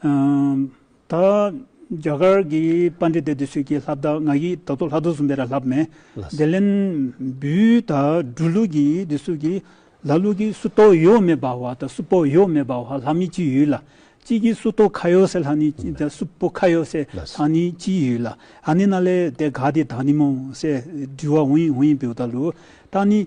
ད་རྒྱ་གར་གྱི་པཱ་ནྟི་ཏའི་དུས་ཚོད་ཀྱི་ལྷ་བདག་ང་ཡི་ད་དུ་ལྷ་བདུད་གསུམ་པའི་ར་ལྷབ་མེ་དེ་ལན་བུའི་ད་སྦྲུལ་ལུགས་ཀྱི་དུས་ཚོད་ཀྱི་ལ་ལུགས་ཀྱི་སུ་ཏོ་ཡོ་མེ་བཱ་བ་ད་སུ་པོ་ཡོ་མེ་བཱ་བ་ལྷ་མི་ཅི་ཡོད་ལ་གཅིག་གི་སུ་ཏོ་ཁ་ཡོ་སེ་ལྷ་ནི་ཅི་ད་སུ་པོ་ཁ་ཡོ་སེ་ལྷ་ནི་ཅི་ཡོད་ལ་ཨ་ནི་ན་ལེ་དེ་ག་དེ་ད་ནི་མོ་སེ་སྦྲུལ་བ་ཝུན་ཝུན་བེའུ་ད་ལུ་ད་ནི།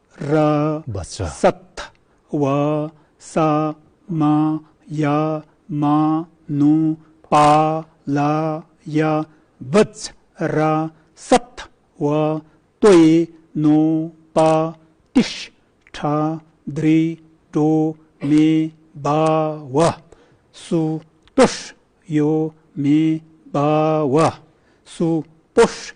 ར། བ་ཚ། ས་ཐ། བ། ས། མ། ཡ། མ། ནུ། པ། ལ། ཡ། བ་ཚ། ར། ས་ཐ། བ། ཏོ། ཡེ། ནོ། པ། ཏི་ཤྲི། ཁྲ། དྲི། དྲོ། མེ། བ། བ། སུ། ཏོ་ཤྲི། ཡོ། མེ། བ། བ། སུ། པོ་ཤྲི།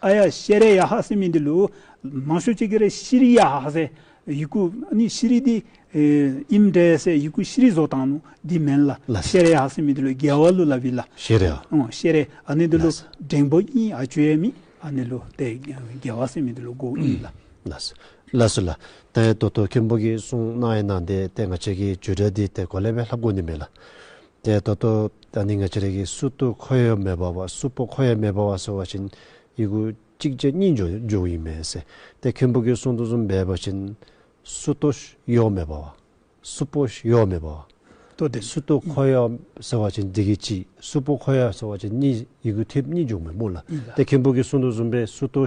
ཨ་ཡ་ཤེ་རེ་ཡ་ཧ་སེ་མི་འདི་ལོ། མང་ཤོས་གཅིག་གི་རེ་ཤི་རི་ཡ་ཧ་ཧ་སེ། ཡི་གུ་ནི་ཤི་རི་དི། ཨིམ་འདྲེ་ཡ་སེ་ཡི་གུ་ཤི་རི་བཟོ་དང་ནུ་དི་མན་ལ། ཤེ་རེ་ཡ་ཧ་སེ་མི་འདི་ལོ་རྒྱལ་བ་ལུ་ལ་བི་ལ། ཤེ་རེ་ཡ། ཤེ་རེ་ཡ་ནི་འདི་ལོ་འགྲེང་བོ་ཨིན་ཨ་ཅོ་ཡ་མི་ཨ་ནི་ལོ་ཏེ་རྒྱལ་བ་སེ་མི་འདི་ལོ་གོ་ཨིན་ལ། ལ་སུ། ལ་སུ་ལ། ཏན་ཡ་ཏོ་ཏོ་ཁེན་པོ་གིས་སུང་གནང་ཡ་ནང་དེ་ཏན་ག་ཆེ་གིས་ཇུ་དྲ་དི་ཏེ་གོ་ལེ་བའི་ལྷ་བསྐོ་ནི་མེ་ལ། དེ་ལྟ་སྟོ། ད་ནི་ང་ཅི་རེ་གི་སུ་སྟུ་ཁོ་ཡོ་མེ་བ་བ་སུ་པོ་ཁོ་ཡ་མེ་བ་བ་སོ་བ་བཞིན་ཡི་གུ་གཅིག་རྗེ་གཉིས་འཇོག་འཇོག་གི་ཡིན་མེད་སེ་དེ་མཁན་པོ་གི་གསུང་དུ་སུམ་བས་པ་བཞིན་སུ་སྟོ་ཡོ་མེ་བ་བ་སུ་པོ་ཡོ་མེ་བ་བ་སྟོ་དེ་སུ་སྟུ་ཁོ་ཡོ་ཟེར་བ་བཞིན་འདི་གི་གཅིག་སུ་པོ་ཁོ་ཡ་ཟེར་བ་བཞིན་གཉིས་ཡི་གུ་ཐིབ་གཉིས་འཇོག་མི་མོ་ལ་དེ་མཁན་པོ་གི་གསུང་དུ་སུམ་བས་སུ་སྟོ་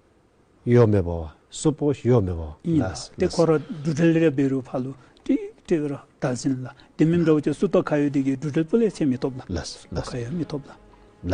གཡོ་མེད་པ། སོ་པོ་གཡོ་མེད་པ། གཉིས་ལ་སྟེ་འཁོར་བ་འབྲུ་དྲིལ་རལ་པའི་རུས་བྷ་ལུ་ཏྲི་ཏྲི་ར་དཱ་ཟིན་ལ། དེ་མིན་འདྲ་བོ་ཅན་སུ་ཏོ་ཁ་ཡོ་དི་གའི་འབྲུ་དྲིལ་སྤུ་ལས་ཕྱེ་མི་ཐོབ་ལ། སུ་ཏོ་ཁ་ཡོ་མི་ཐོབ་ལ།